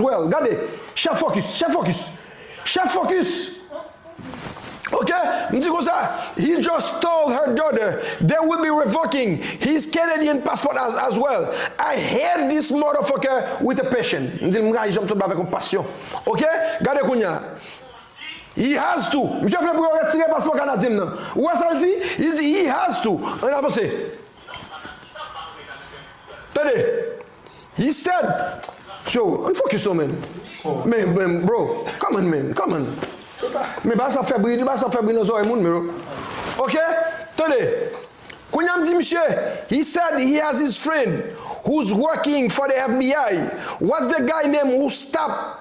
Well gade chef focus chef focus chef focus ok m di konsa he just told her daughter they will be revoking his Canadian passport as as well I hate this motherfucker with a passion m di l m rayi janm sòt la avèk yon pasyon ok gade kounya he has to misye vle pou yo retire paspò kanadyen m nan ou wè sa l di he has to an n avanse tande. He said Tjo, ann fokis non men Men men bro, come on men, come on Men bagay sa ap fè bri, bagay sa ap fè bri nan zòrèy moun bro Ok, tande Kounye a m di misye He said he has his friend who's working for the FBI What's the guy name who stop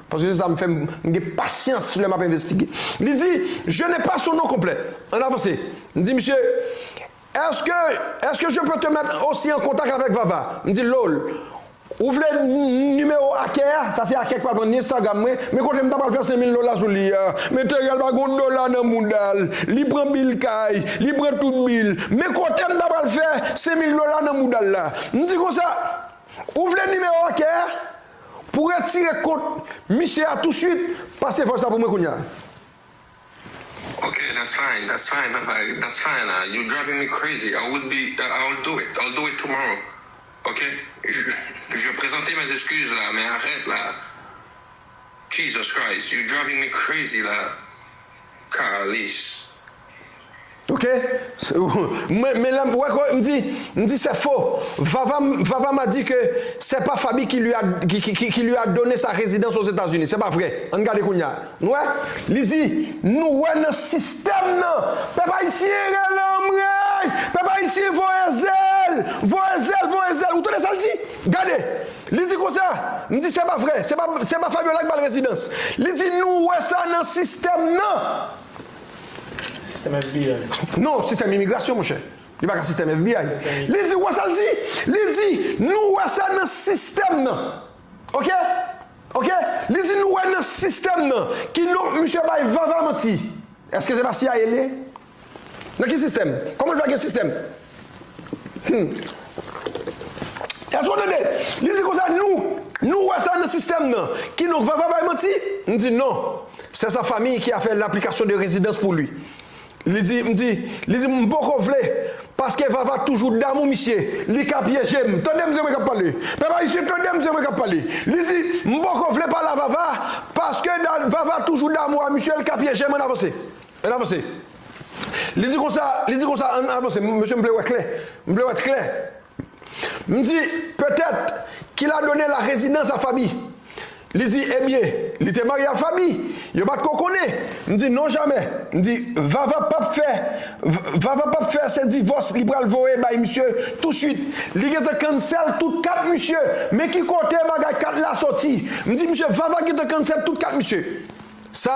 Paske se sa m fè, m gen pasyans lè m ap envestige. Li di, Je n'ai pas son nom complet. Ann avanse. M di misye, Est-ce que, est-ce que je peux te mettre aussi en contact avec Vava? M di l, Lol, ou vle nimewo Akè a? Sa se Akè ki pral pran Instagram mwen. Men kote m ta pral fè senmil dola sou li a? Meteryèl pa gen yon dola nan mouda l. Li pran bil kay, li pran tout bil. Men kote m ta pral fè senmil dola nan mouda l la? M di konsa, Ou vle nimewo Akè a? Pou retire kont misye a tou swit pase vòs la pou mwen kounya. Ok that's fine that's fine papa that's fine ahh you driving me crazy I would be I will do it I will do it tomorrow ok je presente mes excuses la men arèt la Jesus Christ you driving me crazy la. Carlis. Ok mwen men la wè ko m di m di c'est faux vava vava m'a dit que c'est pas Faby qui lui a qui lui a donné sa résidence aux Etats Unis c'est pas vrai ann gade kounya nou wè li di nou wè nan système nan pèp ayisyen rele anmreyy pèp ayisyen voye zèl voye zèl voye zèl ou tande sal di. Gade! Li di konsa! M di se pa vre, se pa, se pa Fabiola ki ba l rezidans. Li di nou wè sa nan sistèm nan. Sistèm FBI. Non, sistèm imigrasyon, monchè. Li pa ka sistèm FBI. Li di, ou wè sa l di? Li di, nou wè sa nan sistèm nan. Oke? Oke? Li di nou wè nan sistèm nan. Kidonk, misye bay Vava manti. Èske se pa CIA l ye? Nan ki sistèm? Kòman l fè gen sistèm? Humm. Èske w tande? Li di konsa, Nou, nou wè sa nan sistèm nan. Kidonk, Vava bay manti? M di, Non. Sè sa fanmi ki a fè l'application de résidence pou li. Li di, m di, li di, M poko vle, paske Vava toujou damou misye. Li ka pyeje m. Tande misye mwen k ap pale. Pèp Ayisyen, tande misye mwen k ap pale. Li di, M poko vle pale a Vava, paske Vava toujou damou a misye, l ka pyeje m. Ann avanse. Ann avanse. Li di konsa, li di konsa, ann avanse, m, mesye m vle wè klè. M vle wè klè. M di, Petèt, ki la done la rezidans a Faby. Li di, Ebyen, li te marye a Faby. Yo pa t ko konnen. M di, Non jamè. M di, Vava p ap fè, Vava p ap fè se divòs li pral voye bay misye tousuit. Li gentan cancel tout kat misye. Men ki kote bagay kat la soti. M di, Misye, Vava gentan cancel tout kat misye. Sa.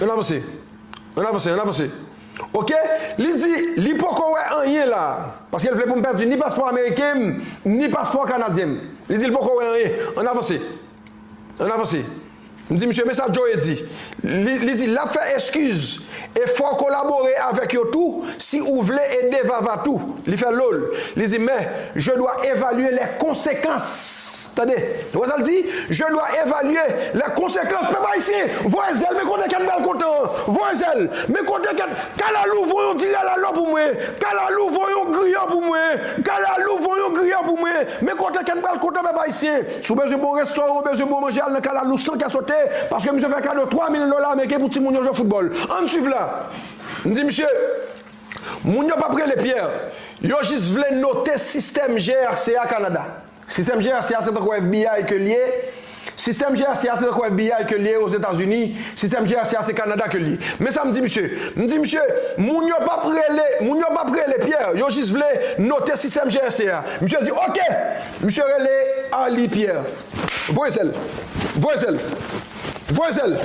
Ann avanse. Ann avanse, ann avanse. Ok, li di li poko wè anyen la a. Paske l vle pou m pèdi ni paspò ameriken m, ni paspò kanadyen m. Li di l poko wè anyen. Ann avanse. Ann avanse. M di misye men sa Joe di. Li di l ap fè eskiz e fò w kolabore avèk yo tou. Si ou vle ede Vava tou, li fè lol, li di men, je dwa evalye lè konsekans. Tande! Nou wè sa l di? Je dwa evalye lè konsekans. Pèp Ayisyen, voye zèl, men kote kèt bèl kontan an. Voye zèl, men kote kèt. Kalalou, voye yon ti lalalò pou mwen. Kalalou, voye yon griyo pou mwen. Kalalou, voye yon griyo pou mwen. Men kote kèt bèl kontan, pèp Ayisyen. Si w bezwen bon restoran, w bezwen bon manje, al nan Kalalou san kè sote, paske misye fè kado 3 mil dola ameriken pou timoun yo jwe foutbòl. An n swiv la! M di misye, Moun yo p ap rele Pierre, yo jis vle note sistèm GRC a Kanada. Sistèm GRC a se tankou FBI ke l ye, sistèm GRC a se tankou FBI ke l ye Ozetazini, sistèm GRC a se Kanada ke l ye. Men sa m di misye, m di misye, Moun yo p ap rele, moun yo p ap rele Pierre, yo jis vle note sistèm GRC a. Misye di, Oke! Misye rele Arly Pierre. Voye zèl! Voye zèl! Voye zèl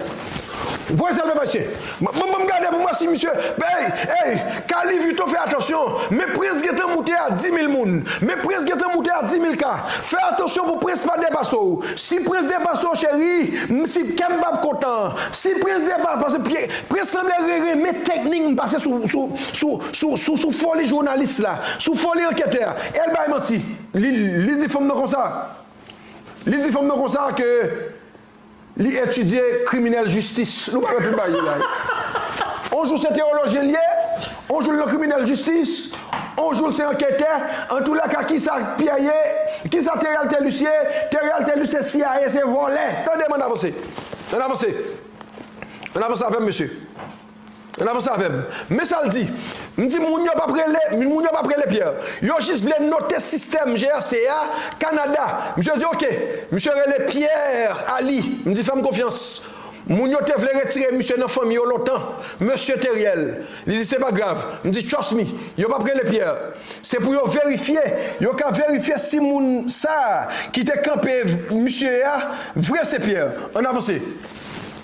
Voye zèl papa chyen Banm banm gade pou m wè si misye Eyy eyy ka Louis Vuitton fè atansyon Men prens gentan moute a dimil moun Men prens gentan moute a dimil ka Fè atansyon pou prens pa depase w Si prens depase w cheri m si kè m pap kontan Si prens depa pase pye Prens sanble re renmen teknik m pase sou sou sou sou sou sou foli jounalis la Sou foli anketè a El bay manti Li li di fanm nan konsa Li di fanm nan konsa ke li etidye kriminèl jistis. Nou pa wè tout bagay yo la wi. On jou se tewolojyen li ye, on jou l nan kriminèl jistis, on jou l se anketè. Antoulèka kisa Pyè ye, kisa Teryal Telus ye, Teryal Telus se cia, se vòlè. Tande m ann avanse. Ann avanse. Ann avanse avè m mesye. Ann avanse avè m. Men sa l di, M di moun yo pa prele, m moun yo pa prele Pierre. Yo jis vle note sistèm GRC a, Kanada. Misye di ok. Misye rele Pierre Ali. M di fè m konfyans. Moun yo te vle retire misye nan fanmi yo lontan. Mesye Theriel. Li di se pa grav. M di trust me. Yo pa prele Pierre. Se pou yo verifye. Yo ka verifye si moun sa a ki te kanpe misye a vre se Pierre. Ann avanse.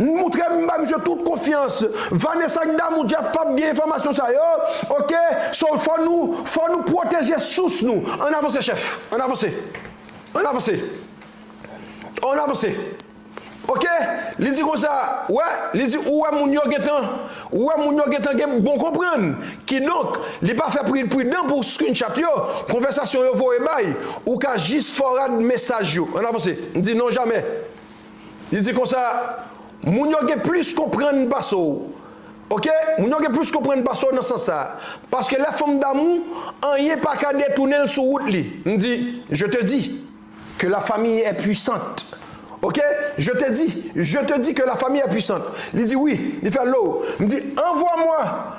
M moutre m ba misye tout konfyans. Vanessa ak damou Jeff pap gen enfòmasyon sa yo ok so fò nou fò nou pwoteje sous nou ann avanse chèf ann avanse ann avanse ann avanse ok li di konsa wè li di ou wè moun yo gentan ou wè moun yo gentan gen bon konprann kidonk li pa fè pri pridan pou screenshot yo konvèsasyon yo voye bay ou ka jis fòward mesaj yo ann avanse m di non jamè. Li di konsa, Moun yo gen plis konprann pase w. Ok, moun yo gen plis konprann pase w nan sans sa a. Paske lè fanm damou, anyen pa ka detounen l sou wout li. M di, Je te dis que la famille est puissante. Ok, je te dis, je te dis que la famille est puissante. Li di, Wi. Li fè, Lo. M di, Envoie-moi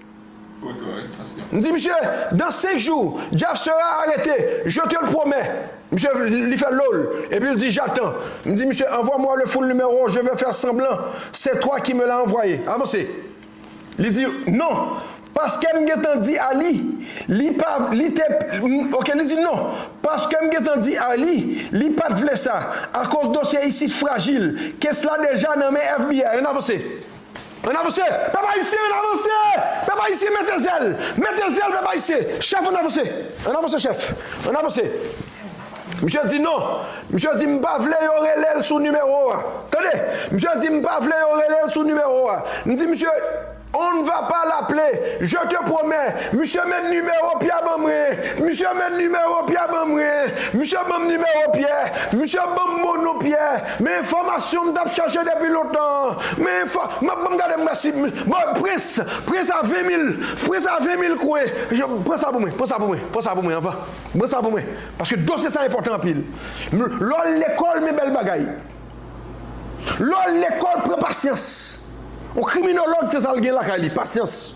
M di misye dans 5 jou Jeff sera arete je te le promè misye li fè loll epi l di jatan m di misye anvwa mwa le full numero je vè fè sanblan se twa ki me la anvwaye avanse li di non paske m gentan di a li li pa li te ok li di non paske m gentan di a li li pat vle sa akoz dosye isit frajil kes la deja nan men FBI ann avanse. Ann avanse! Pèp Ayisyen ann avanse! Pèp Ayisyen mete zèl! Mete zèl pèp Ayisyen! Chèf ann avanse! Ann avanse chèf! Ann avanse! Misye di non! Misye di m pa vle yo rele l sou nimewo a! Tande! Misye di m pa vle yo rele l sou nimewo a! M di misye On ne va pas l'appeler! Je te promets! Misye men nimewo Pyè ban mwen! Misye men nimewo Pyè ban mwen! Misye ban m nimewo Pyè! Misye ban m bon non Pyè! Men enfòmasyon m tap chache depi lontan an men enfò map banm gade m wè si bon prens pran sa 20 mil pran sa 20 mil kwe yo pran sa pou mwen pran sa pou mwen pran sa pou mwen anvan pran sa pou mwen paske dosye sa enpòtan anpil m lè w lekòl men bèl bagay lè w lekòl pran pasyans yon kriminolog se sa l gen lakay li pasyans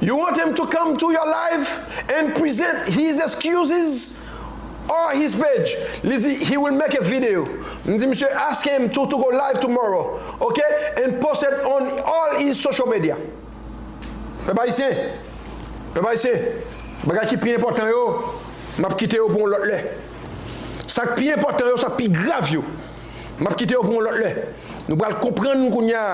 You want him to come to your live and present his excuses or his page li di he will make a video m di misye ask him to to go live tomorrow ok and post it on all his social media Pèp ayisyen Pèp ayisyen bagay ki pi enpòtan yo m ap kite yo pou yon lòt lè sa k pi enpòtan yo sa k pi grav yo m ap kite yo pou yon lòt lè nou pral konprann kounya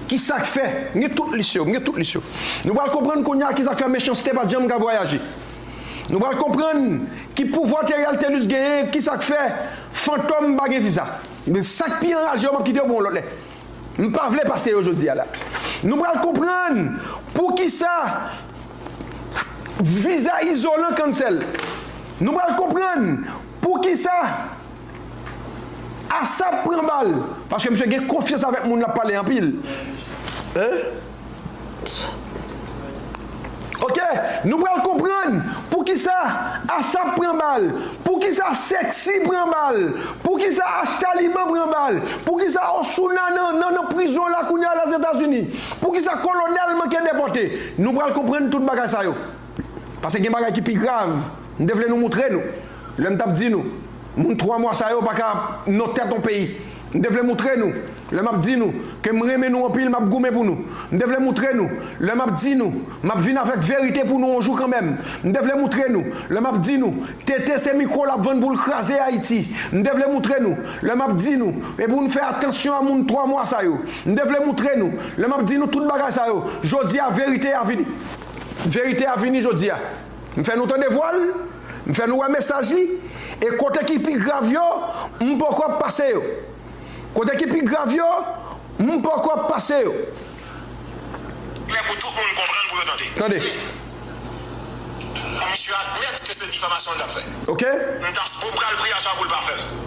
Ki sa k fè? M gen tout lis yo. M gen tout lis yo. Nou pral konprann kounye a ki sa k fè mechanste pa t janm ka vwayaje. Nou pral konprann ki pouvwa Theriel Thelus genyen, ki sa k fè fantòm pa gen viza. Men sa k pi anraje yo m ap kite yo pou yon lòt lè. M pa vle pase yo jodi a la. Nou pral konprann pou ki sa viza izolan cancel. Nou pral konprann pou ki sa Asap pran bal paske misye gen konfyans avèk moun lap pale anpil ok nou pral konprann poukisa Asap pran bal poukisa sexy pran bal poukisa Ashtaliman pran bal poukisa Osuna nan prizon la kounya la Zetazini poukisa Kolonèl manke depòte nou pral konprann tout bagay sa yo. Pase gen bagay ki pi grav m te vle nou moutre nou lè m t ap di nou moun 3 mwa sa yo pa ka non tèt on peyi m te vle moutre nou lè m ap di nou ke m renmen nou anpil m ap goumen pou nou m te vle moutre nou lè m ap di nou m ap vin avèk verite pou nou on jou kanmenm m te vle moutre nou lè m ap di nou TT se mikro l ap vann pou l kraze Ayiti m te vle moutre nou lè m ap di nou e pou nou fè atansyon a moun 3 mwa sa yo m te vle moutre nou lè m ap di nou tout bagay sa yo jodi a verite a vini. Verite a vini jodi a. M fè nou tande vwa l, m fè nou wè mesaj li, e kote ki pi grav yo, m poko ap pase yo. Kote ki pi grav yo, m poko ap pase yo. Klè pou tout moun konprann, pou yo tande. Tande. Pou misye admèt ke se difamasyon li t ap fè. Ok. Mtaspo pral pri acha pou l pa fè l.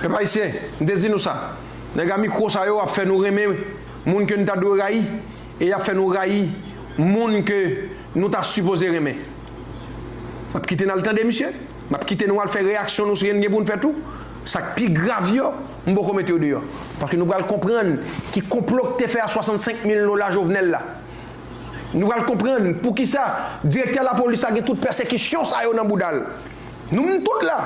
Pèp Ayisyen, m te di nou sa, nèg a mikro sa yo ap fè nou renmen moun ke n ta dwe rayi e y ap fè nou rayi moun ke nou ta sipoze renmen. M ap kite n al tande misye, m ap kite nou al fè reyaksyon nou si n gen pou n fè tou, sa k pi grav yo, m poko mete yo deyò. Paske nou pral konprann ki konplo k te fè a 65 mil dola Jovenel la. Nou pral konprann poukisa direktè lapolis la gen tout pèsekisyon sa yo nan bouda l. Nou menm tout la,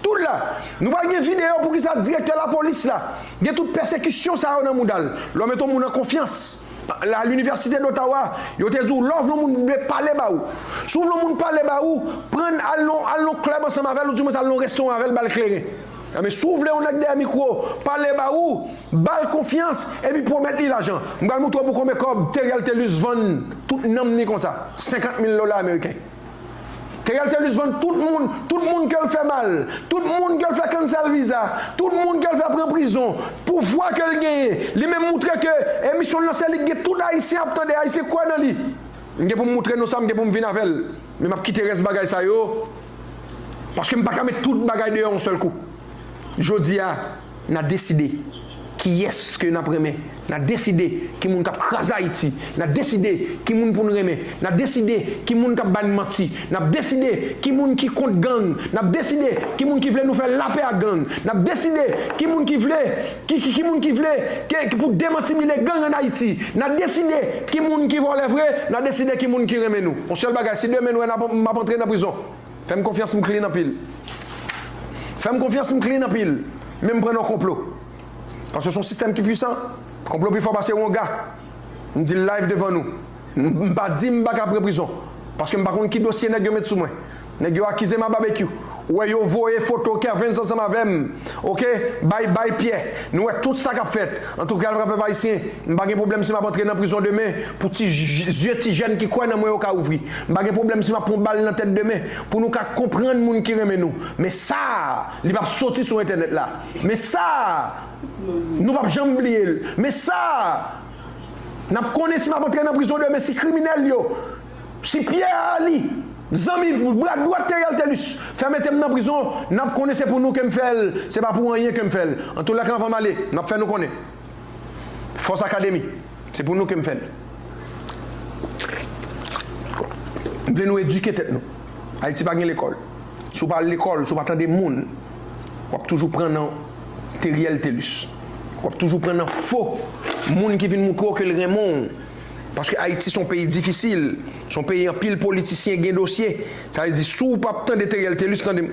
tout la, nou pral gen video poukisa direktè lapolis la gen tout pèsekisyon sa yo nan mouda l, lè w met yon moun an konfyans, a l'université d'Ottawa yo te di w lè w vle yon moun vle pale ba ou, si w vle yon moun pale ba ou, pran l al nan al nan club ansanm avè l ou di mwens al nan restoran avè l ba l kleren. Anben si w vle yon nèg dèyè mikwo pale ba ou, ba l konfyans epi pwomèt li lajan. M pral moutre w pou konbe kòb Theriel Thelus vann tout nanm ni konsa, 50 mil dola ameriken. Theriel Thelus vann tout moun, tout moun ke l fè mal, tout moun ke l fè cancel viza, tout moun ke l fè pran prizon, pouvwa ke l genyen, li menm moutre ke emisyon l lan se li k gen tout ayisyen ap tande, ayisyen kwè nan li. M gen pou m moutre nou sa, m gen pou m vin avè l, men m ap kite rès bagay sa yo, paske m pa ka met tout bagay deyò yon sèl kou. Jodi a. Nan deside kiyès ke nap renmen. Nan deside ki moun kap kraze Ayiti. Nan deside ki moun pou n renmen. Nan deside ki moun kap ba n manti. Nap deside ki moun ki kont gang. Nap deside ki moun ki vle nou fè lapè ak gang. Nap deside ki moun ki vle ki ki moun ki vle ke pou demantibile gang an Ayiti. Nan deside ki moun ki vòlè vre. Nan deside ki moun ki renmen nou. On sèl bagay, si demen nou wè nap map antre nan prizon. Fèm konfyans m clean anpil. Fèm konfyans m clean anpil menm pran nan konplo paske son sistèm ki pwisan konplo pifò pase wonga m dil live devan nou m pa dim paka pran prizon paske m pa konn ki dosye nèg yo met sou mwen nèg yo akizem a babekyou ou wè yo voye foto kervens ansanm avèm ok bay bay pyè nou wè tout sa kap fèt antouka lra pèp ayisyen m pa gen pwoblèm si map antre nan prizon demen pou ti zye ti jèn ki kwè nan mwen yo ka ouvri. M pa gen pwoblèm si m ap pran bal nan tèt demen pou nou ka konprann moun ki renmen nou. Men sa a, li p ap soti sou entènèt la. Men sa a, nou p ap janm bliye l. Men sa a, n ap konnen si m ap antre nan prizon demen, si kriminèl yo, si Pyè Aali, zanmi, bra dwat Theriel Thelus, fè mete m nan prizon, n ap konnen se pou nou ke m fè l, se pa pou anyen ke m fè l. Antoulèka anvan m ale, m ap fè nou konnen. Fòs Akademi, se pou nou ke m fè l. M vle nou edike tèt nou. Ayiti pa gen lekòl. Si w pa al lekòl, si w pa tande moun, w ap toujou pran nan Teriel Telus. W ap toujou pran nan fo moun ki vin moutre w ke l renmen w. Paske Ayiti se yon peyi difisil, se yon peyi anpil politisyen gen dosye. Sa vle di si w pa tande Teriel Telus, tande m.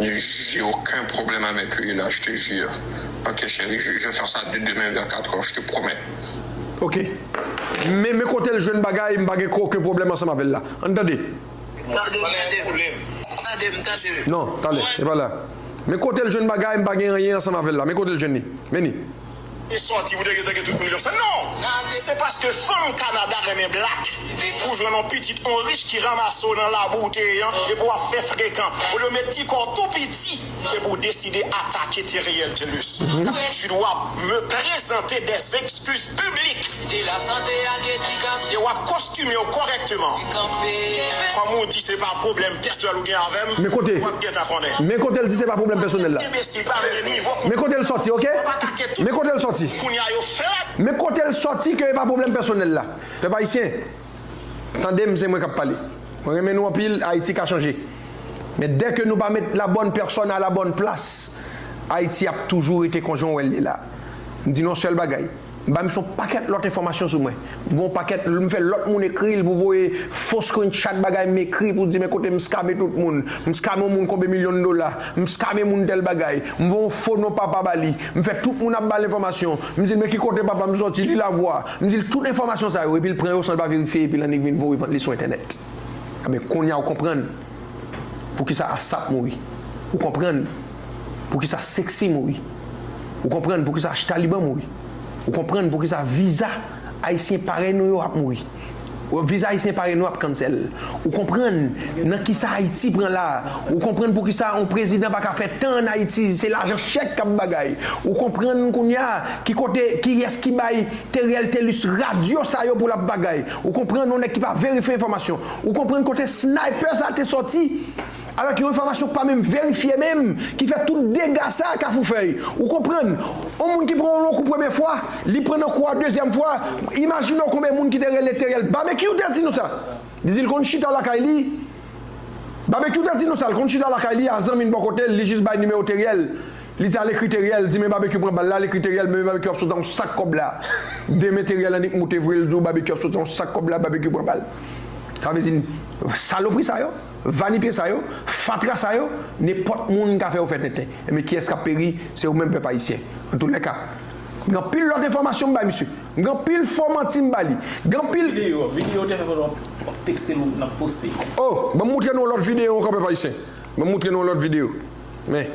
J'ai aucun problème avec lui là je te jure ok chérie je vais faire ça dès demain vers 4 heures je te promets. Ok men men kotel jwenn bagay m pa gen oken pwoblèm ansanm avèl la ann tande. Non tande epa la men kotel jwenn bagay m pa gen anyen ansanm avèl la men kotel jwenn li men li. e sòti pou te gentan gen tout milyon sa non se paske fanm Canada renmen black pou jwenn yon pitit yon rich ki ranmase w nan labou ou te ye an epi wap fè frekan olye w met ti kò w tou piti epi w deside atake Theriel Thelus tu dois me presenter des excuses publiques. De la sante ak edikasyon. E wap kostime w kòrèkteman. Te kanpe kenbe. Kòm ou di se pa pwoblèm pèsonèl ou gen avè m, Men kote. wap gentan konnen. Men kote l di se pa pwoblèm pèsonèl la. Enbesil pa vle gen nivo kou. Men kote l sòti ok. Wap atake tout. Men kote l sòti. Kounye a yo flat. Men kote l sòti ke e pa pwoblèm pèsonèl la. Pèp Ayisyen, tande m se mwen k ap pale. Mwen renmen nou anpil, Ayiti ka chanje. Men dè ke nou pa met la bòn pèsòn a la bòn plas, Ayiti ap toujou rete kon jan w wè l ye la. M di nou yon sèl bagay. M bay misye yon pakèt lòt enfòmasyon sou mwen. M gen yon pakèt, m fè lòt moun ekri l pou voye fo screenshot bagay m ekri pou di men kote m scame tout moun. M scame yon moun konbe milyon dola. M scame moun tèl bagay. M voye yon fo non papa ba li. M fè tout moun ap ba l enfòmasyon. M di l men ki kote papa m sòti, li la vwa. M di l tout enfòmasyon sa yo epi l pran yo san l pa verifye epi l annik vin voye vant li sou entènèt. Enben, kounye a ou konprann. Poukisa Asap mouri? Ou konprann poukisa Sexy mouri? Ou konprann poukisa Ashtaliban mouri? Ou konprann poukisa viza Ayisyen parèy nou yo ap mouri? Viza Ayisyen parèy nou ap cancel? Ou konprann nan kisa Ayiti pran la? Ou konprann poukisa yon prezidan pa ka fè tan an Ayiti, se lajan chèk kap bagay? Ou konprann kounya ki kote, kiyès ki bay Theriel Thelus radyo sa yo pou lap bagay? Ou konprann yon nèg ki pa verifye enfòmasyon? Ou konprann kote sniper sa te sòti avèk yon enfòmasyon k pa menm verifye menm ki fè tout dega sa kafoufèy ou konprann on moun ki pran on lon kou premye fwa li pran nan kou a dezyèm fwa imajine w konbyen moun ki te rele Theriel Babekyou te di nou sa li di l konn chita lakay li Babekyou te di nou sa l konn chita lakay li a zanmi l bò kote l li jis bay nimewo Theriel Li t al ekri Teriel di men Babekyou pran bal la, l ekri Teriel men Babekyou ap sot an yon sak kòb la. Demen Teriel annik moute vre l di w Babekyou ap sot an yon sak kòb la, Babekyou pran bal. Sa vle di n salopri sa yo, vanipye sa yo, fatra sa yo, nenpòt moun ka fè yo fè tenten. Enben kiyès k ap peri? Se ou menm pèp ayisyen. Antoulèka, m gen anpil lòt enfòmasyon m bay misye. M gen anpil fo manti m ba li. M gen anpil. Videyo, videyo w te fè pandan w ap w ap tekste m nan poste. O! Ban m moutre nou yon lòt videyo ankò pèp ayisyen. Ban m moutre nou yon lòt videyo. Men.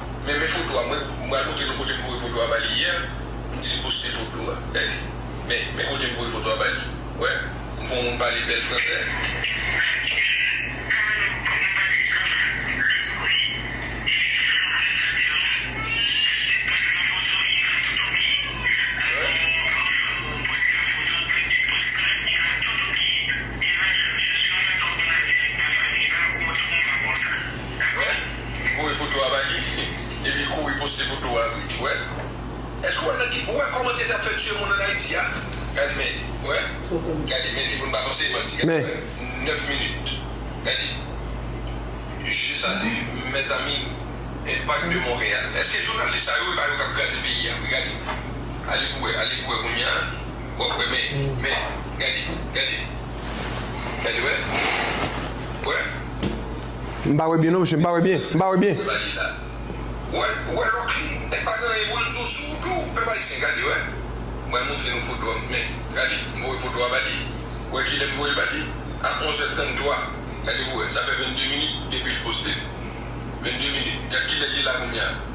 Men men foto a mwen m pral montre nou kote m voye foto a ba li yè m di l poste foto a gade men men kote m voye foto a ba li wè m fon moun pale bèl fransè. Wè. voye foto a ba li epi kouri poste foto a wi wè èske ou wè nan ki ou wè kòman tete ap fè tiye moun an ayiti a gad men wè gade men li pou n pa panse li manti gade men 9 minit gade je salu mes amis impact de Montréal èske jounalis sa yo e pa yo kap kraze peyi a wi gade ale pou wè ale pou wè kounya wap wè men men gade gade gade wè wè. M pa wè byen non mesye m pa wè byen m pa wè byen. Wè locline e pa gen anyen poul di w sou ou tou pèp ayisyen gade wè bal montre nou foto an men gade m voye foto a ba li wè kilè m voyel ba li a 11 è 33 gade pou wè sa fè 22 minit depil postel 22 minit gad kilè li la kounya.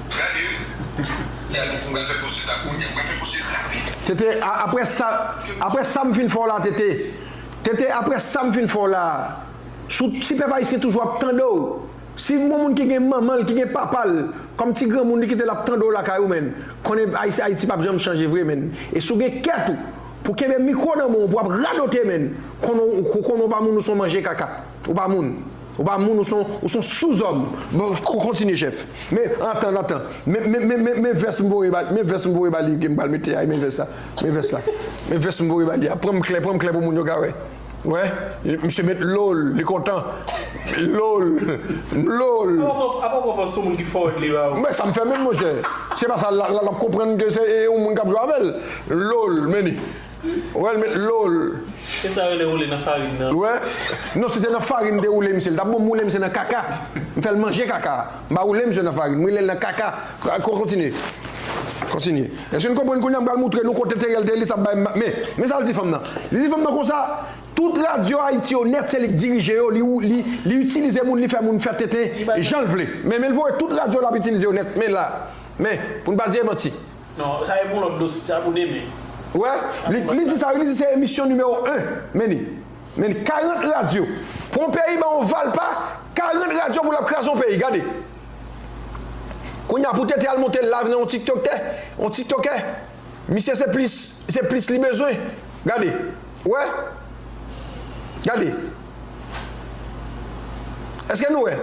Gade wi. Y'a nou mwen pral fè pwosè sa kounya. Mwen pral fè pwosè rapid. TT, A aprè sa, aprè sam fin fè w la TT. TT, Aprè sam fin fè w la. Sou ti pèp ayisyen toujou ap tande w. Si m gon moun ki gen manman l, ki gen papa l, kòm ti granmoun li kite l ap tande w lakay ou menn, konnen ayisyen ayiti pap janm chanje vre menn. E si w gen kè tou, pou kenbe mikwo nan men w pou ap radote menn, konnen w konnen w pa moun ou son manje kaka. Ou pa moun. Ou pa moun ou son ou son souzòm bon kontinye chèf men antan antan men men men men men vès m voye ba men vès m voye ba li ke m pral mete a men vès la men vès la men vès m voye ba li a pran m klè pran m klè pou moun yo ka wè wè misye met lo l li kontan lo l lo l men sa m fè menm monchè se pa sa la la l ap konprann ke se e yon moun k ap jwe avè l lo l men ni. Wè l met lo l. Se sa yo rele woule nan farin nan. Wè non si se nan farin m te woule misye l tap bon m woule misye nan kaka m fè l manje kaka a m pa woule misye nan farin m woule l nan kaka kontinye kontinye èske n konprann kounye a m pral moutre nou kote Theriel te li sa bay men men sa l di fanm nan li di fanm nan konsa tout radyo Ayiti yo nèt se li k dirije yo li li li itilize moun li fè moun fè tenten jan l vle men men l voye tout radyo l ap itilize yo nèt men la men pou n pa di e manti. Non, sa se pou yon lòt dosye, sa pou demen. Wè, li di sa wi, li di se emisyon nimewo 1, men li, men li, 40 radyo, pou yon peyi ba w valpa, 40 radyo pou l ap kraze yon peyi, gade. Kounye a pou TT al monte live nan yon tiktoktè, yon tiktokè, misye se plis, se plis li bezwen, gade. Ou wè? Gade. Eske nou wè?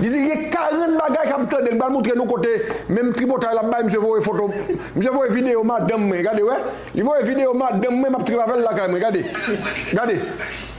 Li di li gen 40 bagay kap tande li pral moutre nou kote menm tripotay lap bay misye voye foto misye voye video madanm mwen gade wè li voye video madanm mwen map trip avèl lakay mwen gade gade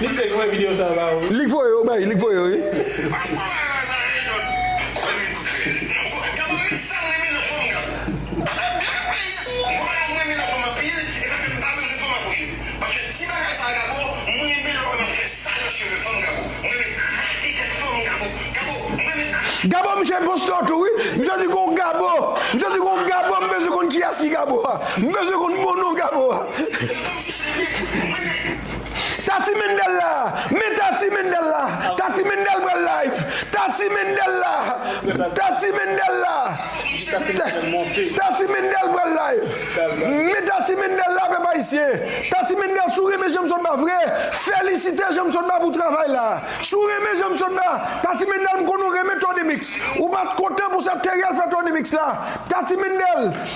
Misye voye video sa ba ou wi. Lik voye yo bay lik voye yo wi. Gabo misye enpostor tou wi misye di gon gabo misye di gon gabo m bezwen konn kiyas ki gabo a m bezwen konn bon non gabo a. Tati Mendel la! Men Tati Mendel la! Tati Mendel pral live! Tati Mendel la! Tati Mendel la! Tati Mendel pral live! Men Tati Mendel la pèp ayisyen! Tati Mendel si w renmen janm sotba vre felisite janm sotba pou travay la! Si w renmen janm sotba Tati Mendel m konnen w renmen Tony mix ou pat kontan pou sa Theriel fè Tony mix la Tati Mendel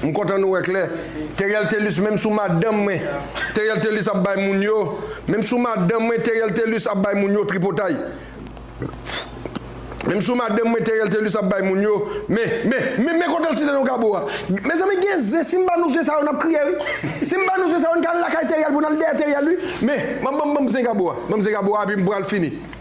M kontan nou wè klè. Teriel Thelus menm sou madanm mwen Teriel Thelus ap bay moun yo menm sou madanm mwen Teriel Thelus ap bay moun yo tripotay menm sou madanm mwen Teriel Thelus ap bay moun yo men men men men kotel site non gabo a mezanmi gen zen sim ba nou zen sa yo nap kriye wi sim ba nou zen sa yo n ka al lakay Teriel pou n al dèyè Teriel wi men banm banm banm zen gabo a banm zen gabo a epi m pral fini.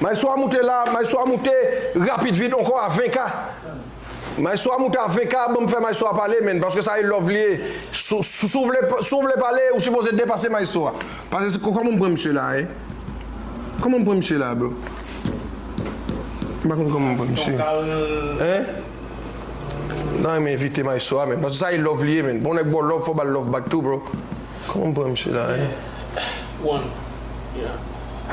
Maestro a moute la maestro a moute rapid vit onko a 20 k maestro a moute a 20 k banm fè maestro a pale menn paske sa e love li ye sou sou vle sou vle pale ou sipoze depase maestro a pase se koman m pran misye la e koman m pran misye la bro m pa konn koman m pran misye hein m ta renmen envite maestro a menn paske sa e love li ye menn bon nèg baw love fò bal love back tou bro. Kòman m pran misye la hein.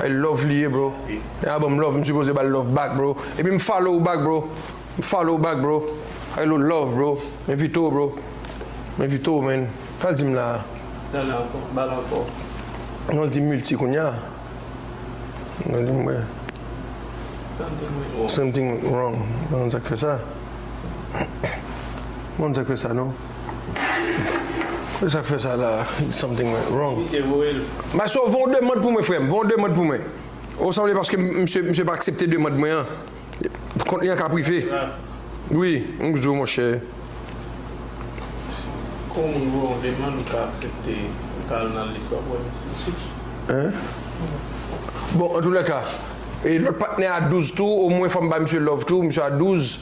Ay love li ye bro. Nèg la banm love m sipoze bal love back bro. Epi m follow ou back bro. M follow ou back bro. Ay lo love bro. M envite w bro. M envite w man. Sa l di m la a? Non l di m multi kounya. Nan li m wè. Something went wrong. M pa konn sa k fè sa. M pa konn sa k fè sa non. Kote sak fè sa la something went wrong. Misye voye l. Maestro fon demand pou mwen frèm fon demand pou mwen oh sanble paske misye misye pa aksepte demand mwen an kont li an ka prive wi m k di w monchè. Kou yon moun voye yon demand ou ka aksepte ou ka al nan lis wap wè misye. Bon antoulèka e lòt patnè a 12 tou omwen fòm bay misye love tou misye a 12.